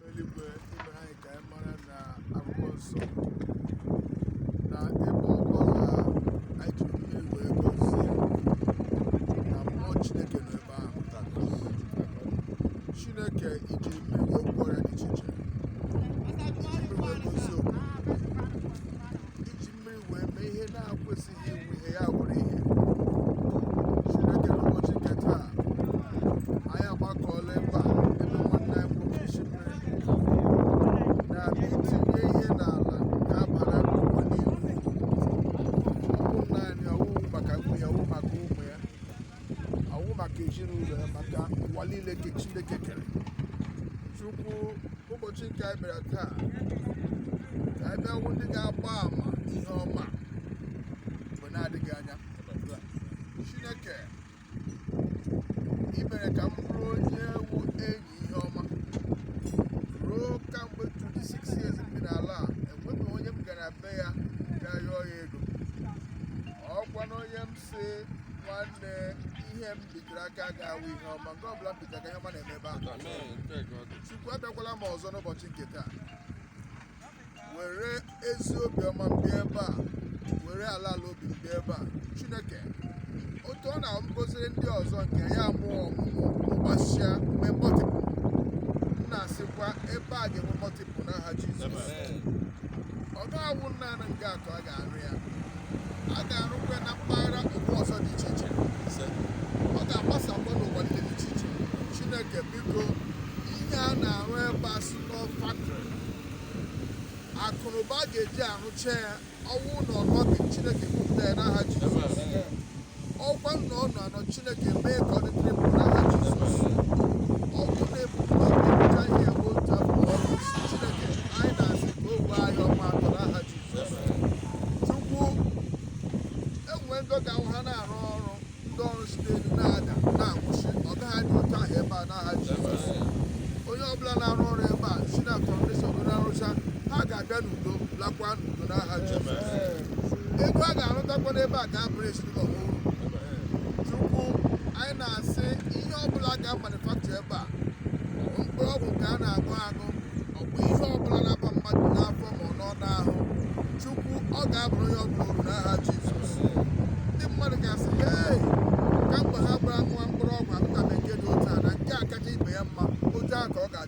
eluigwe i mere anyị ka anyị mara na akwụkwọ nsọ na ebe ọbụla anyị ji mmiri wee gọzie na mmụọ chineke nọ ebe ahụ chineke i ji mmiri wee gwọọ ọya dị iche iche mmiri wee mee ihe na-akwesịghị ịwụ ihe ya wụrụ ihe chineke n'ụbọchị nke taa anyị agbakọọla ebe a ebe nwanne anyị nwoke isi mmiri na itinye ihe n'ala ga-abara n'ụwa niile uru naanị ọ wụghị maka nwunye ọ wụ maka ụmụ ya ọ wụ maka ezinụlọ ya maka ụwa niile nke chineke kere chukwu ụbọchị nke anyị bịara taa ka anyị bịa wụ ndị ga-agba ama ihe ọma mgbe na-adịghị anya chineke i mere ka m bụrụ onye wụ enyi ihe ọma ruo kamgbe 26 years m bi n'ala a enweghị onye m gara be ya ga yọọ ya ego ọkwa na onye m sị nwanne ihe m bitere aka ga-awụ ihe ọma nke ọbụla m bitere aka ihe ọma na-eme ebe ahụ chukwu abịakwala m ọzọ n'ụbọchị nke taa were ezi obiọma m bịa ebe a were ala ala obi m bịa ebe a chineke otu ọ na-agọziri ndị ọzọ nke ya mụọ ọmụmụ gbasaa mee multiple m na-asịkwa ebe a ga-enwe multiple n'aha jizọs ọ ga-awụ naanị nke atọ a ga-arụ ya a ga-arụkwa ya na mpaghara ugwu ọzọ dị iche iche ise ọ ga-agbasakwa n'ụwa niile dị iche iche chineke biko ihe a na-arụ ebe a si nọ factory akụnụba a ga-eji arụcha ya ọ wụ na ọ nọ n'omi chineke kupụta ya n'aha jizọs ọ wụkwa n'ọnwụ ọ nọ chineke mee ka ọ dịrị ndụ n'aha jizọs ọ bụrụ na ebubo na-ebucha ihe bụ otu afọ ọrụ isi chineke anyị na-asị ka o wee anyị ọnwa atọ n'aha jizọs chukwu enwe ndị ga-awụ ha na-arụ ọrụ ndị ọrụ si n'elu na-ada na-anwụsị ọ gaghị adị otu ahụ ebe a n'aha jizọs onye ọbụla na-arụ ọrụ ebe a si na foundation na-arụcha ha ga-abịa n'udo lakwa n'udo n'aha jizọs ego a ga-arụtakwa n'ebe a ga-abụrụ ezinụlọ ha uru chukwu anyị na-asị ihe ọbụla ga-amanufacture ebe a mkpụrụ ọgwụ ka a na-aṅụ aṅụ ọ bụ ihe ọbụla na-aba mmadụ n'afọ ma ọ nọ n'ahụ chukwu ọ ga-abụrụ onye ọbụla uru n'aha jizọs ndị mmadụ ga-asị hey ka mgbe ha bịara ṅụwa mkpụrụ ọgwụ aṅụtabeghị nke dị otu a na nke a kacha ibe ya mma otu ahụ ka ọ ga-adị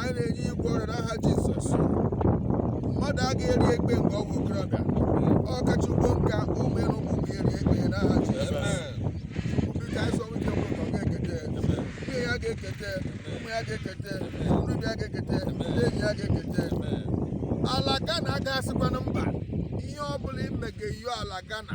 anyị na-enye igwe ọrịa n'aha jizọs mmadụ agaghị eri ekpe nke ọgwụ okorobịa ọ kacha ugbo nka ụmụ ịrụ ụmụ gị eri ekpe n'aha jizọs ndị ka anyị sọ nwike nwe ka ọ ga-ekete nwunye ya ga-ekete ụmụ ya ga-ekete nrubi ya ga-ekete ndị enyi ya ga-ekete ala ghana agaghị asịkwanụ mba ihe ọ bụla imegeyo ala ghana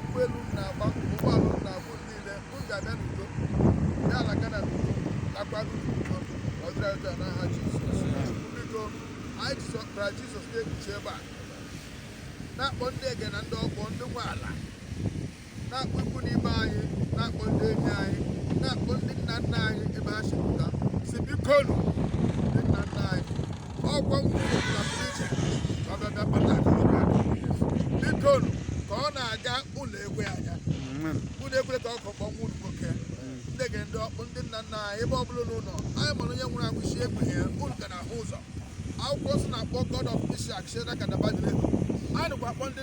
ụgbọelu m na-agba ụgbọala m na-abụ niile m ga-abịa n'udo ya ala Ghana n'udo lakwaa n'udo ọdịra ụjọ n'aha Jizọs biko anyị ji ọbara Jizọs na-ekpuchi ebe a na-akpọ ndị ege na ndị ọkpụ ndị nwe ala na-akpọ ikwu na ibe anyị na-akpọ ndị enyi anyị na-akpọ ndị nna nna anyị ebe ha si pụta si bikonu ọkwa nwunye na pụrụ ka ọ bịa bịa kpata akụnụba biko nụ, ka ọ na-aga ụlọ egwe anya ụlọ egwe ka ọ kọkpọ nwa unu nwoke ndị ege ndị ọkpụ ndị nna nna anyị ebe ọ bụla unu nọ anyị ma na onye nwụrụ anwụ si egbe ya unu ka na-ahụ ụzọ akwụkwọ nsọ na-akpọ god of Isaac na god of Abraham a nụkwa akpọ ndị